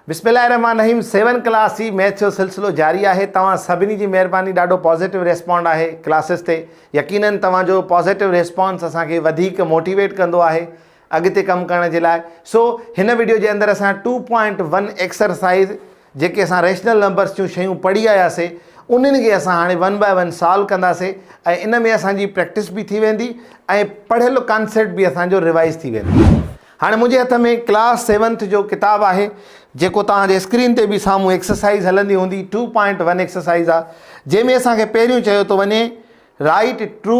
بسم الله الرحمٰن الرحيم سيون ڪلاس جي ميٿ جو سلسلو جاري آهي توهان سڀني جي مهرباني ڏاڍو پازيٽو ريسپانڊ آهي ڪلاسز تي يقينن توهان جو پازيٽو ريسپانس اسان کي وڌيڪ موٽيويٽ ڪندو آهي اڳتي ڪم ڪرڻ جي لاء سو هن ويڊيو جي اندر اسان ٽو پوائنٽ ون ايڪسرسائز جيڪي اسان ريشنل نمبرس جون شيون پڙهي آياسي انهن کي اسان هاڻي ون باء ون سالو ڪنداسي ۽ ان ۾ اسان جي پريڪٽس به ٿي ويندي ۽ پڙهيل ڪانسيپٽ به اسان جو ريوائز ٿي ويندو هاڻي منهنجي هٿ ۾ ڪلاس سيونٿ جو ڪتاب آهي جيڪو توهان جي اسڪرين تي به سامهون ايڪسرسائيز هلندي هوندي ٽو پوائنٽ ون ايڪسرسائيز آهي جنهن ۾ اسان کي پهريون چيو ٿو وڃي write true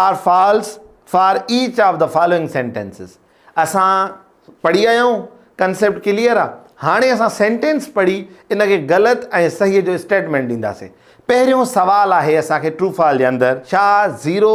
or false for each of the following sentences اسان پڙهي آيا آهيون ڪنسيپٽ ڪليئر آهي هاڻي اسان سينٽينس پڙهي ان کي غلط ۽ صحيح جو اسٽيٽمينٽ ڏينداسين پهريون سوال آهي اسان کي ٽرو فال جي اندر ڇا زيرو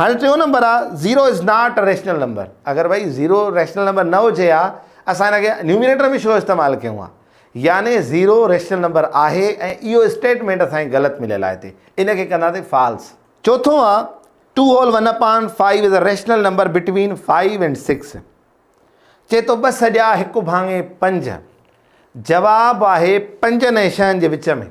هاڻي ٽيون نمبر آ zero is not a rational number اگر ڀائي زيرو ريشنل نمبر نه هجي ها اسان هن کي نيوميريٽر ۾ ڇو استعمال ڪيون ها يعني زيرو ريشنل نمبر آهي ۽ اهو اسٽيٽمينٽ اسان کي غلط مليل آهي هتي ان کي ڪنداسين فالس چوٿون آ two whole one upon five is a rational number between five and six چي ٿو ٻه سڄا هڪ ڀاڱي پنج جواب آهي پنجن ۽ شهن جي وچ ۾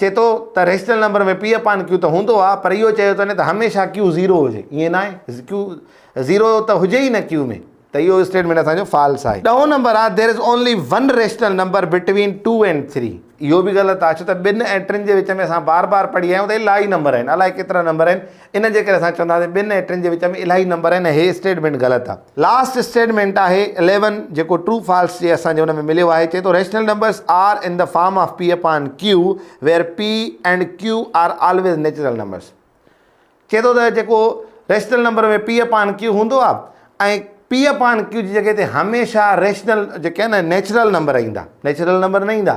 چئي ٿو ته rational number ۾ p upon q ته هوندو آهي پر اهو چيو ٿو نه ته هميشه ڪيو زيرو هجي ائين نه آهي ڪيو زيرو ته هجي ئي نه ڪيو ۾ ته اهو اسٽيٽمينٽ اسان جو فالس آهي. ڏهون نمبر آهي there is only one rational number between two and three اهو به غلط آهي ڇو ته ٻن ۽ ٽن جي وچ ۾ اسان بار بار پڙهي آيا آهيون ته الاهي نمبر آهن الاهي ڪيترا نمبر آهن. ان جي ڪري اسان چونداسين ٻن ۽ ٽن جي وچ ۾ الاهي نمبر آهن ۽ هي اسٽيٽمينٽ غلط آهي. لاسٽ اسٽيٽمينٽ آهي اليون جيڪو ٽرو فالس جي اسان جي ان ۾ مليو آهي چئي ٿو rational numbers are in the form of p upon q where p and q are always natural numbers چئي ٿو ته جيڪو rational number ۾ p upon q هوندو آهي ۽ پي اپان ڪيو جي جڳهه تي هميشه ريشنل جيڪي آهن نه نيچرل نمبر ايندا نيچرل نمبر نه ايندا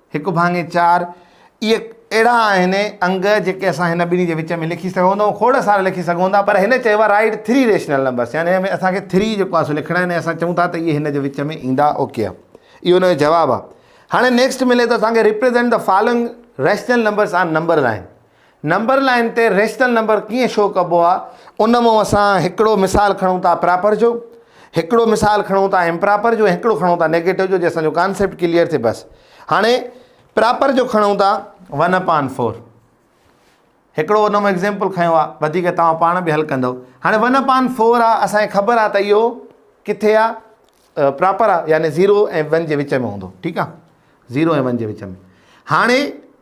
هڪ ڀاڱي چار، اهي اهڙا آهن انگ جيڪي اسان هن ٻنهي جي وچ ۾ لکي سگهون ٿا ۽ کوڙ سارا لکي سگهون ٿا پر هن چيو آهي رائيٽ ٿري ريشنل نمبرس يعني هن ۾ اسان کي ٿري جيڪو آهي سو لکڻا آهن ۽ اسان چئون ٿا ته اهي هن جي وچ ۾ ايندا اوڪي آهي اهو هن جو جواب آهي هاڻي نيڪسٽ ملي ٿو اسان کي represent the following rational numbers on number line number line تي ريشنل نمبر ڪيئن شو ڪبو آ ان مون اسان هڪڙو مثال کڻون ٿا پراپر جو هڪڙو مثال کڻون ٿا امپراپر جو هڪڙو کڻون ٿا نيگيٽو جو جي اسان جو ڪانسيپٽ ڪليئر ٿي بس هاڻي پراپر جو کڻون ٿا ون اپان فور هڪڙو ان مون ايگزامپل کنيو آ وڌيڪ توهان پاڻ به حل ڪندو هاڻي ون اپان فور آ اسان خبر آ ته اهو ڪٿي آ پراپر آ يعني زيرو ۽ ون جي وچ ۾ هوندو ٺيڪ آ زيرو ۽ ون جي وچ ۾ هاڻي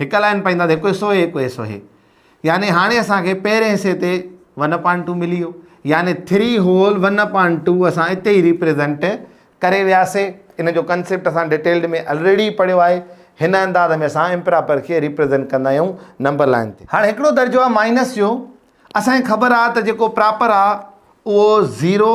هڪ لائين پائيندا ته هڪ حصو هي هڪ حصو هي يعني هاڻي اسان کي پهرين حصي تي ون اپان ٽو ملي ويو يعني three whole one upon two اسان اتي ئي ريپريزنٽ ڪري وياسي ان جو ڪنسيپٽ اسان ڊيٽيلڊ ۾ الريڊي پڙهيو آهي هن انداز ۾ اسان امپراپر کي ريپريزنٽ ڪندا آهيون نمبر لائين تي هاڻي هڪڙو درجو آهي مائنس جو اسان کي خبر آهي ته جيڪو پراپر آهي اهو zero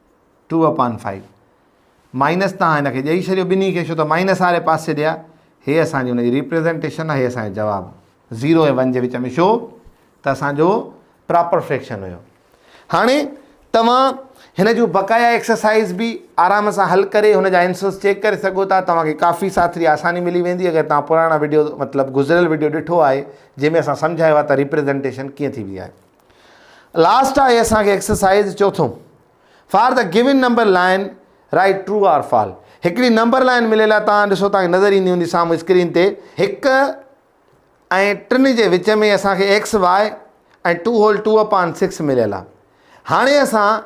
two upon five minus تان هن کي ڏئي ڇڏيو ٻنهي کي ڇو ته مائنس واري پاسي ڏي هي اسان جي ان جي ريپريزنٽيشن آهي هي اسان جو جواب زيرو ۽ ون جي وچ ۾ ڇو ته اسان جو پراپر فريڪشن هيو هاڻي توهان هن جون بقايا ایڪسرسائز به آرام سان حل ڪري هن جا آنسرس چيڪ ڪري سگهو ٿا توهانکي ڪافي ساٿري آساني ملي ويندي اگر توهان پراڻا ويڊيو مطلب گذريل ويڊيو ڏٺو آهي جنهن ۾ اسان سمجهايو آهي ته ريپريزنٽيشن ڪيئن ٿيبي آهي لاسٽ آهي اسان کي ايڪسرسائز چوٿون for the given number line write true or false هڪڙي نمبر لائن مليل آهي تان ڏسو تان نظر ايندي هوندي سامهون اسڪرين تي هڪ ۽ ٽن جي وچ ۾ اسان کي x y ۽ two whole two upon six مليل آهي هاڻي اسان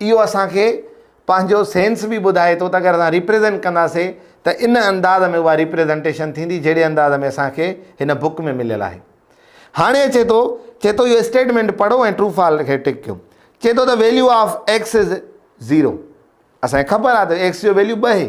اهو اسان کي پنهنجو سينس به ٻڌائي ٿو ته اگر اسان ريپريزنٽ ڪنداسي ته ان انداز ۾ اها ريپريزنٽيشن ٿيندي جهڙي انداز ۾ اسان کي هن بوڪ ۾ مليل آهي هاڻي اچي ٿو چي ٿو اهو اسٽيٽمينٽ پڙهو ۽ ٽرو فال کي ٽڪ ڪيو چي ٿو ته value of x is zero اسان کي خبر آهي ته ايڪس جو ويليو ٻه هي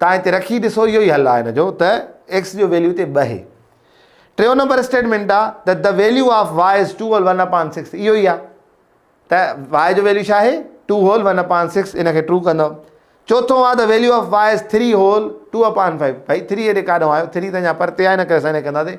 تان هتي رکي ڏسو اهو ئي حل آهي هن جو ته ايڪس جو ويليو هتي ٻه هي ٽيون نمبر اسٽيٽمنٽ آ ته the value of y is two whole one upon six اهو ئي آ ته واء جو ويليو ڇا آهي two whole one upon six ان کي ٽرو ڪندو چوٿون آ the value of y is three whole two upon five بھائی ٿري هيڏي ڪاڏو آيو ٿري ته اڃا پرتي آهي ن ڪري اسان هن کي ڪنداسين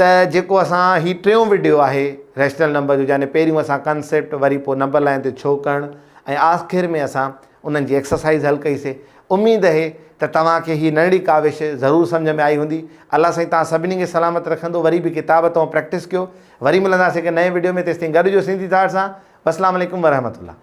ته جيڪو اسان هي ٽيون وڊيو آهي ريشنل نمبر جو يعني پهريون اسان ڪنسيپٽ وري پوء نمبر لائين تي ڇو ڪرڻ ۽ آخر ۾ اسان انهن جي ايڪسرسائيز حل ڪئي سي اميد اهي ته توهان کي هي ننڍڙي ڪاوش ضرور سمجهه ۾ آئي هوندي الله سائين توهان سڀني کي سلامت رکندو وري به ڪتاب تئون پريڪٽس ڪيو وري ملنداسي هڪ نئين وڊيو ۾ تيستائين گڏ هجو سنڌي ٿاٽ سان وسلام عليڪم ورحمت الله.